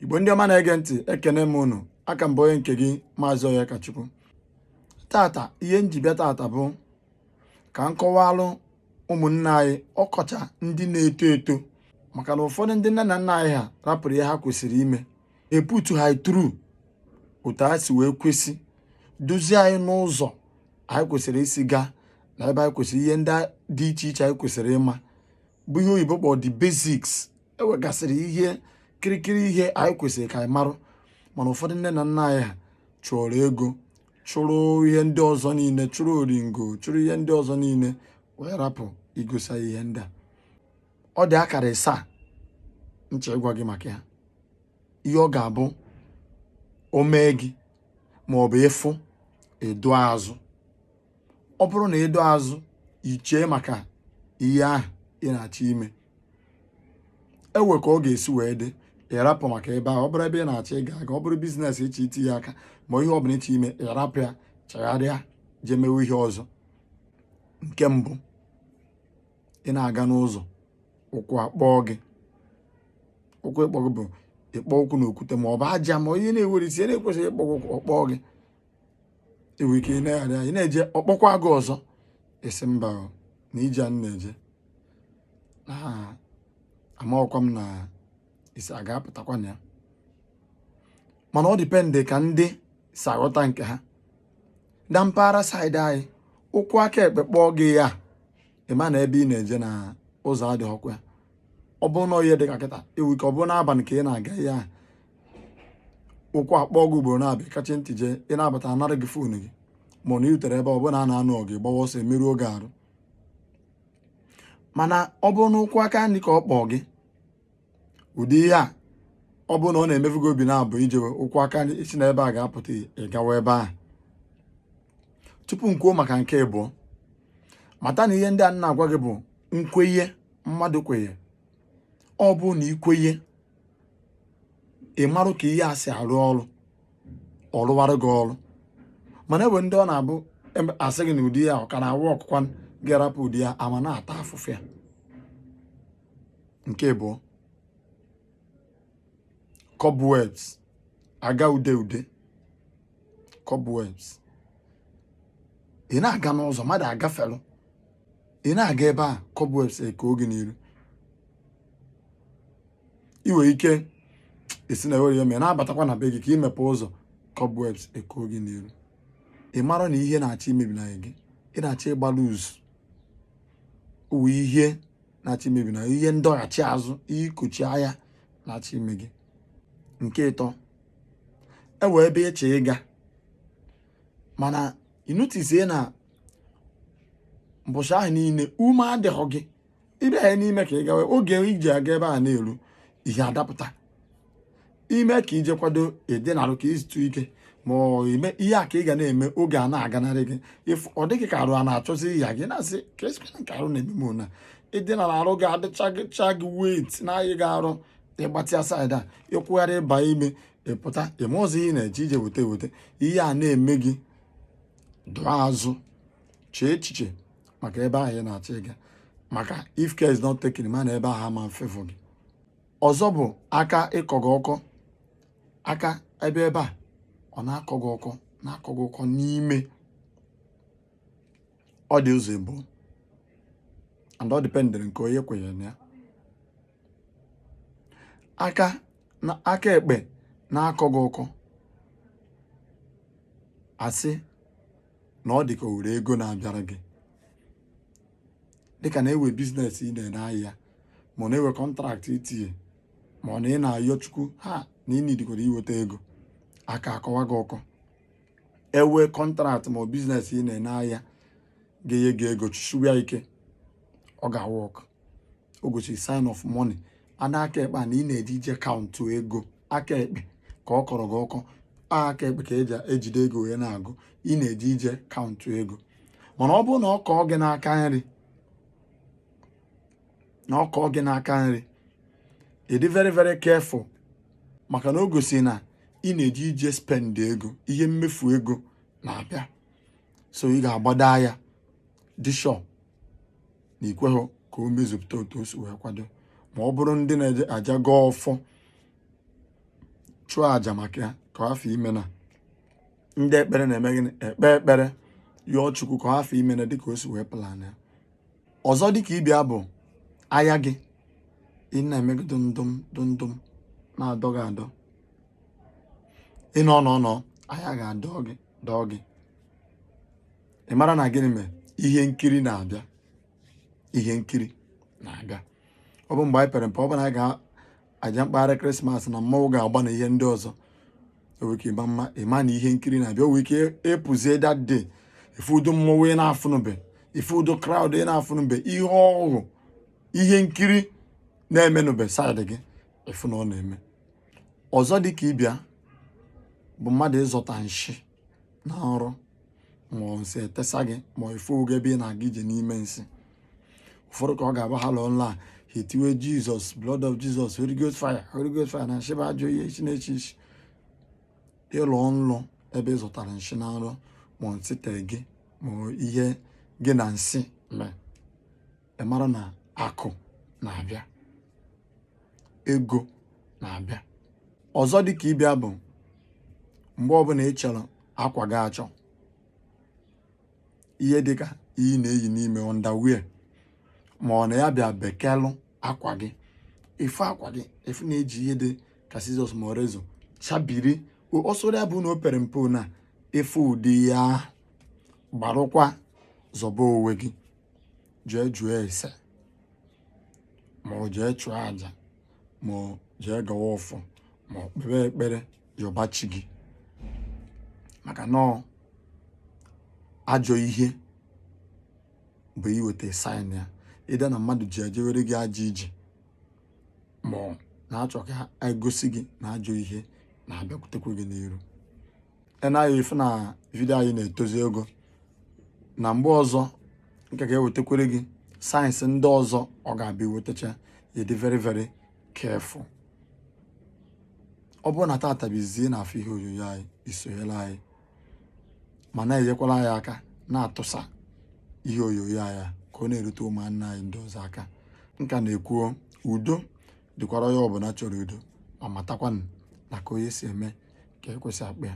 igbo ndị ọma na-ege ntị ekene m unu aka m bụ onye nke gị maazị Onyekachukwu tata ihe m ji bịa tata bụ ka m kọwalụ ụmụnna anyị ọkacha ndị na-eto eto maka na ụfọdụ ndị nne na nna anyị ha rapụrụ ihe ha kwesịrị ime iputu ha through otu ha si wee kwesị duzie anyị n'ụzọ anyị kwesịrị isi gaa na ebe anyị kwesịrị ihe ndị dị iche iche anyị kwesịrị ịma bụ ihe oyibo kpọrọ the basics e nwegasịrị ihe kirikiri ihe anyị kwesịrị ka anyị marụ mana ụfọdụ nne na nna anyị ha chụrụ ego chụrụ ihe ndị ọzọ niile chụrụ oringo chụrụ ihe ndị ọzọ niile wee rapụ igosi anyị ihe ndị a ọ dị akara isaa m chọ ịgwa gị maka ya ihe ọ ga-abụ o mee gị ma ọ bụ ị fụ ị dọọ azụ ọ bụrụ na ị dọọ azụ i chee maka ihe ahụ ị na-achọ ime e nwee ka ọ ga-esi wee dị ị rapụ maka ebe ahụ ọ bụrụ ebe ị na-achọ ịga aga ọ bụrụ business ị chọ itinye aka ma ihe ọ bụla ị chọ ime ị rapụ ya chagharịa jee mewe ihe ọzọ nke mbụ ị na-aga n'ụzọ ụkwụ akpọọ gị ụkwụ ịkpọ gị bụ ịkpọ ụkwụ na okwute ma ọ bụ aja ma ihe na-enwerọ isi na-ekwesịghị ịkpọ ụkwụ ọ kpọọ gị i nwere ike i neghara ya ị na-eje ọ kpọkwa gị ọzọ ị sị mba na ije a m na-eje na amaghọkwa m na isi a ga-apụtakwa na ya mana ọ depend ka ndị si aghọta nke ha na mpaghara side anyị ụkwụ aka ekpe kpọọ gị ya ị ma na ebe ị na-eje na ụzọ adịghịkwa ya ọ bụrụ na ihe dị ka kịta e nwere ike ọ bụrụ n'abalị ka ị na-aga ihe ahụ ụkwụ akpọọ gị ugboro naabọ ị kachi ntị jee ị na-abata a nara gị phone gị ma ọ na i rutere ebe ọ bụla a na-anụ ọgụ gbawa ọsọ e merụọ gị arụ mana ọ bụrụ na ụkwụ aka nri ka ọ kpọọ gị ụdị ihe a ọ bụrụ na ọ na-emefu gị obi naabọ i jewe ụkwụ aka nri ị sị na ebe a ga-apụta ị gawa ebe ahụ tupu m kwuo maka nke ịbụọ mata na ihe ndị a m na-agwa gị bụ nkwenye mmadụ kwenye ọ bụ na i kwenye ị marụ ka ihe a si arụ ọrụ ọ rụwara gị ọrụ mana e nwere ndị ọ na-abụ a sị gị na ụdị ya ọ ka na-awụ ọkụkwa ga-arapụ ụdị ya a mana ata afụfụ ya nke ịbụọ cobwebs aga ude ude cobwebs ị na-aga n'ụzọ mmadụ agafelụ ị na-aga ebe a cobwebs ekoo gị n'iru ị nwere ike esi na ewere ya ma ị na-abatakwa na be gị ka i mepe ụzọ cobwebs ekoo gị n'iru ị mara na ihe na-achọ imebi na gị ị na-achọ ịgbalụ uzu uwe ihe na-achọ imebi na ihe ndọghachi azụ ihe ikochi aya na-achọ ime gị nke ịtọ e wee ebe ị chọ ịga mana ị notice na mbọchị ahụ niile ume adịghị gị ị bịa na-eme ka ị gawa oge i ji aga ebe a na-eru ihe adapụta i mee ka i je kwado edinarụ ka i zutụ ike ma ọ ime ihe a ka ị ga na-eme oge a na-aganarị gị ịfụ ọ dịghị ka arụ a na-achọzi ịya gị na-asị ka esikwana nke arụ na-eme m na ị dinara arụ gị adịcha gị weight na-ayị gị arụ ị gbatịa side a ị kwụgharị ị ba ime ị pụta ị marọzị ihe ị na-eje ije weta eweta ihe a na-eme gị dụọ azụ chee echiche maka ebe ahụ ị na-achọ ịga maka if care is not taken ma na ebe ahụ ama favour gị ọzọ bụ aka ịkọ gị ọkọ aka ebe ebe a ọ na-akọ gị ọkọ na-akọ gị ọkọ n'ime ọ dị ụzọ ịbụọ and ọ depend-ịrị nke onye kwenyere na ya aka na aka ekpe na-akọ gị ọkọ a sị na ọ dị ka o were ego na-abịara gị dịka na e we business ị na-ene aya ma ọ na e we contract i tinye ma ọ na ị na-ayọ chukwu ha na ị need-ikwara iweta ego aka akọwa gị ọkọ e we contract ma ọ business ị na-ene aya ga-enye gị ego chụshiwe ya ike ọ ga-work o gosi sign of money ada aka ekpe a na ị na-eje ije count ego aka ekpe ka ọ kọrọ gị ọkọ aka ekpe ka e ji ejide ego wee na-agụ ị na-eje ije count ego mana ọ bụrụ na ọ kọọ gị n'aka nri ị dị very very careful maka na o gosi na ị na-eje ije spend ego ihe mmefu ego na-abịa so ị ga-agbado aya dị sure na i kweghị ka o mezupụta otu o si wee kwado ma ọ bụrụ ndị na-eje aja gọọ ọfọ chụọ aja maka ya ka ọ hafụ ime na ndị ekpere na-eme gịnị ekpe ekpere yọọ chukwu ka ọ hafụ ime na dịka o si wee plan ya ọzọ dịka ibe ya bụ aya gị ị na-eme gị dụndụm dụndụm na-adọ gị adọ ị nọ nọ nọ aya ga-adọ gị dọọ gị ị mara na gịnị mere ihe nkiri na-abịa ihe nkiri na-abịa ọ bụ mgbe anyị pere mpe ọ bụ na anyị ga-eje mkpagharị krismas na mmanwụ ga-agba na ihe ndị ọzọ o nwee ike ịma mma ịma na ihe nkiri na-abịa o nwee ike ịpụzie that day ịfụ ụdị mmọnwụ ị na-afụnụbe ịfụ ụdị crowd ị na-afụnụbe ihe ọhụụ ihe nkiri na-emenụbe side gị ịfụ na ọ na-eme ọzọ dị ka ibe ya bụ mmadụ ịzọta nshị na nrọ ma nsị etesa gị ma ịfụ onwe gị ebe ị na-aga ije n'ime nsị ụfọdụ ka ọ ga-abụ ha lọọ nlọ a ha etiwe jesus blood of jesus holy ghost fire holy ghost fire na nshị bụ ajọ ihe isi na-esi isi ị lọọ nlọ ebe ị zọtara nshị na nrọ ma nsị tee gị ma ihe gị na nsị mee ị mara na akụ na-abịa ego na-abịa ọzọ dị ka ibe ya bụ mgbe ọbụla ị chọrọ akwa gị achọ ihe dịka ihe ị na-eyi n'ime underwear ma ọ na ya bịa bekelụ akwa gị ịfụ akwa gị ịfụ na e ji ihe dị ka scissors ma ọ razor chabiri ọ sọrọ ya bụ na o pere mpe na ịfụ ụdị ya gbarụkwa zọba onwe gị jee jụọ ese ma ọ jee chụọ aja ma ọ jee gọwa ọfọ ma ọ kpebe ekpere yọba chi gị maka na ajọ ihe bụ iweta sign ya either na mmadụ ji ejewere gị ajọ ije ma ọ na-achọ ka e gosi gị na ajọ ihe na-abịakwutekwa gị n'iru ị naghị afụ na video anyị na-etozi ogo na mgbe ọzọ ka a ga-ewetakwara gị signs ndị ọzọ ọ ga-abụ i wetacha ya ị dị very very careful ọ bụrụ na tata bụ izizi ị na-afụ ihe onyonyo anyị i sonyela anyị ma na-enyekwara anyị aka na-atụsa ihe onyonyo anyị ka ọ na-erute ụmụnna anyị ndị ọzọ aka ka m na-ekwu o udo dịkwara onye ọbụla chọrọ udo ma matakwanụ na ka onye si eme ka ekwe si akpọ ya